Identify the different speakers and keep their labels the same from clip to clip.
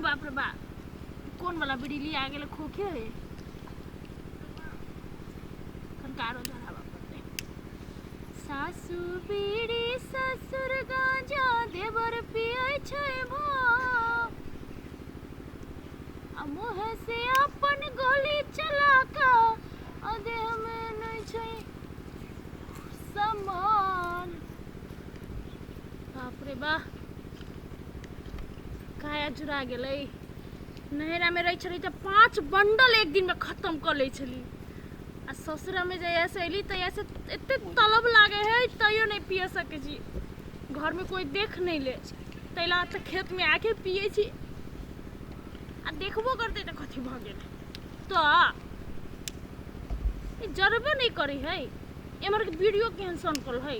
Speaker 1: बाप रे बाप कोन वाला बिजली आ गेल खोखे है कंकारो धरावा पड़ते सासु बीड़ी ससुर गांजा देवर पिए छै भा आ मुँह से अपन गोली चला का आ देह में नहीं छै सम्मान बाप रे बाप काया चुरा गेलै नैहरामे रहै छली तऽ पाँच बंडल एक दिनमे खत्म कऽ लै छली आ ससुरामे जहियासँ अयली तहियासँ एतेक तलब लागै हइ तैयो नहि पिय सकै छी घरमे कोइ देख नहि ले ताहि लए तऽ खेतमे आके पियै छी आ देखबो करतै तऽ कथी भऽ गेल तऽ जरबे नहि करै हइ एम्हरके वीडियो कैंसल कल हइ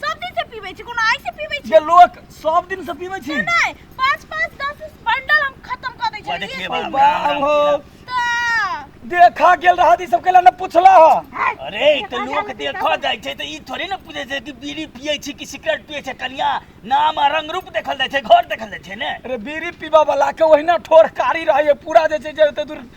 Speaker 1: सब दिन से पीबै छी कोनो आइ से पीबै छी ये लोक सब दिन से पीबै छी नै पाँच पाँच दस दस बंडल हम खत्म कर दै छी देखिए बाप बाप हो देखा गेल रहा ई सब केला न पूछला ह अरे ई त लोक देखा जाय छै त ई थोड़ी न पूछे छै कि बीड़ी पियै छी कि सिगरेट पियै छै कनिया नाम आ रंग रूप देखल जाय छै घर देखल जाय छै ने अरे बीड़ी पीबा वाला के ओहिना ठोर कारी रहै पूरा जे छै जे ओते दूर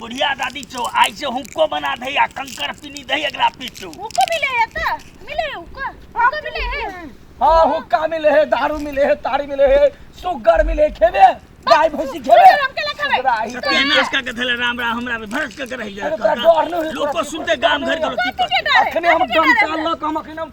Speaker 1: बुढ़िया दादी छौ आइ से हुक्को बना दही आ कंकर पीनी दही एकरा पीछू हुक्को मिले है त मिले है हुक्का हुक्का मिले है हाँ हुक्का मिले है दारू मिले है तारी मिले है सुगर मिले खेबे गाय भैंसी खेबे इसका के धले राम राम हमरा पे भरस के रह जाए लोग सुनते गांव घर के लोग अखने हम डंटा लक हम अखने हम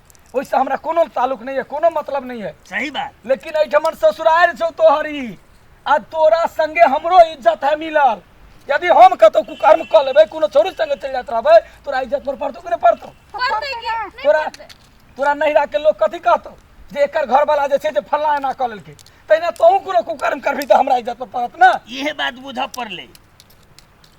Speaker 1: ओहिसँ हमरा कोनो ताल्लुक नहि यऽ कोनो मतलब नहि यऽ सही बात लेकिन एहिठमन ससुरारि छौ तोहर ई आ तोरा संगे हमरो इज्जत है मिलल यदि हम कतौ कुकर्म कऽ लेबै कोनो छोरी संगे चलि जाइत रहबै तोरा इज्जत पर पड़तौ कि नहि पड़तौ पड़तै कि? नहि तोरा पड़तै। तोरा नहिरा के लोग कथी कहतौ जे एकर घर वाला जे छै से फल्ला एना कऽ लेलकै तहिना तोहूँ कोनो कुकर्म करबही तऽ हमरा इज्जत पर पड़त ने इहे बात बुझऽ पड़लै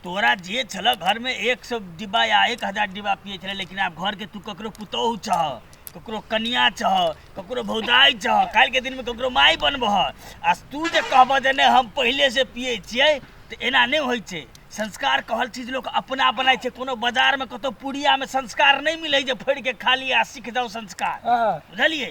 Speaker 1: तोरा जे छल घर में एक सौ डिब्बा या एक हजार डिब्बा पिए छले लेकिन आब घर के तू ककरो पुतोहु छह ककरो कनिया छह ककरो भौजाई छह काल्हि के दिन में ककरो माई बनबह आ तू जे कहबह जे नहि हम पहिले से पिए छियै तऽ एना नहि होइ छै संस्कार कहल चीज लोक अपना बनाइ छै कोनो बाजार में कतौ पुड़िया में संस्कार नहि मिलै जे फोड़ि के खा लिअ आ सीख जाउ संस्कार हाँ। बुझलियै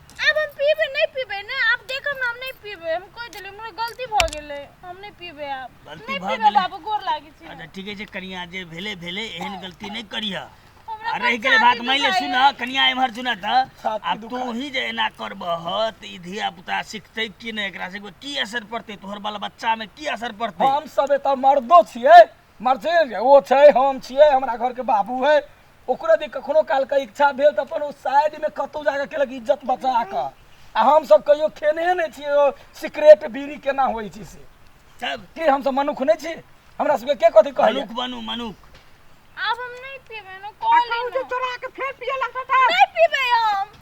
Speaker 1: आब हम पीबै नहि पीबै ने आब देखब ने हम नहि पीबै हम कहि देलियै हमरा गलती भऽ गेलै हम नहि पीबै आब गलती नहि भऽ पीबै गेलै। बाबू गोर लागै छी अच्छा ठीके छै कनिया जे भेले भेले एहन गलती नहि करिह हमरा आ रहि गेलै बात छाती मानि ले दुखाइए। सुन कनिया एम्हर सुन तऽ छाती आब तू ही जे एना करबह तऽ ई धिया पुता सिखतै कि नहि एकरा से की असर पड़तै तोहर बाल बच्चामे की असर पड़तै हम सब एतऽ मर्दो छियै मरते जे ओ छै हम छियै हमरा घरके बाबू है ओकरो जे कखनो कालके इच्छा भेल तऽ अपन ओ साइडमे कतहु जाके केलक इज्जत बचा कऽ आ हमसभ कहियो खेने नहि छियै ओ सिगरेट बीड़ी केना होइ छै से चल की हमसभ मनुख नहि छी हमरा सभके के कथी कहैया मनुख बनू मनुख आब हम नहि पीबै ने आ कहू जे चोरा के फेर पिए लगता था नहीं पीबै हम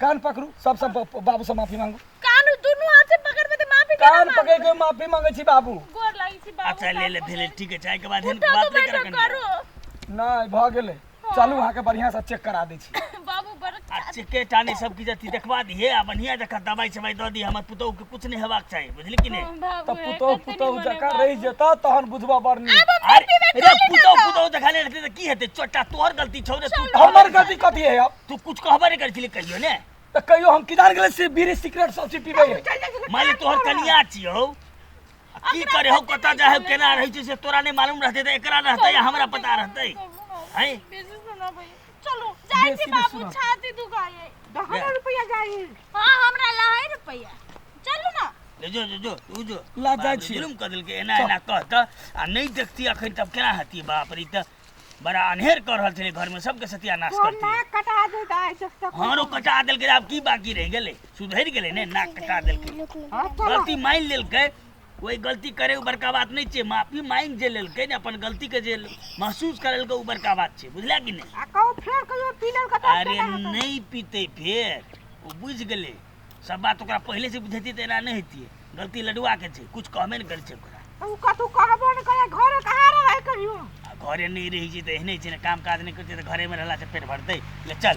Speaker 1: कान पकड़ू सब सब बा- बाबू से माफी मांगू कान दुनू हाथ से पकड़ के माफी केना कान मांगू? पकड़ के माफी मांगे छी बाबू गोर लागै छी बाबू अच्छा ले ले भेले ठीक है चाय के बाद उठा बात तो नहीं बैठो कर करू नहीं भ गेले चलू अहाँ के बढ़िया से चेक करा दै छी बाबू बड़ अच्छे के टाने सब की जति देखवा दी है आ बढ़िया जका दवाई सवाई दऽ दी हमर पुतोह के कुछ नहीं हेबाक चाही बुझली कि नहीं बाबू तब पुतोह पुतोह जकाँ रहि जेता तहन बुझबा बरनी अरे अरे पुतोह पुतोह जका ले रहते तऽ की हेतै चोटा तोहर गलती छौ रे तू हमर गलती कथी है अब तू कुछ कहबे नहीं करथिले कहियो ने तो कहियो हम किनार गेले से बीड़ी सिगरेट सब चीज पीबे है। माने तोहर कनिया छियो आ की करे हो कतऽ जाए हो केना रहै छै से तोरा नहीं मालूम रहते तऽ एकरा रहते या हमरा पता रहते हैं बेसी सुना भाई चलो जाए छी बाबू छाती दुखाए दहन रुपया जाई हां हमरा लहै रुपया चलू ना ले जो जो जो तू जो ला बाप जाइ रे, छी। जुलुम कऽ देलकै एना एना कह तऽ आ नहि देखती अखन तब केना हती बाप रे ई तऽ बड़ा अनहेर कर रहल छलै घरमे सबके सत्यानाश तोर करती नाक कटा दे दाइ से तक हमारो कटा देलकै आब की बाकी रहि गेलै सुधरि गेलै ने नाक कटा देलकै हां चलो गलती मानि लेलकै कोई गलती करे उ बड़का बात नहीं छै माफी मांगि जे लेलकै ने अपन गलती के जे महसूस करेलकै उ बड़का बात छै बुझला कि नहीं आ कहू फेर कहियो पीलर कटा अरे नहीं पीते फेर ओ बुझि गेलै सब बात ओकरा पहले से बुझेती त एना नहीं हेतिए गलती लडुआ के छै कुछ कहबे ने करे छै ओकरा अब उ कतहु कहबो ने करे घरे कहाँ रहे कहियो आ घरे नहीं रही छै त एहने छै ने काम काज नहीं करते त घरे में रहला से पेट भरते ले चल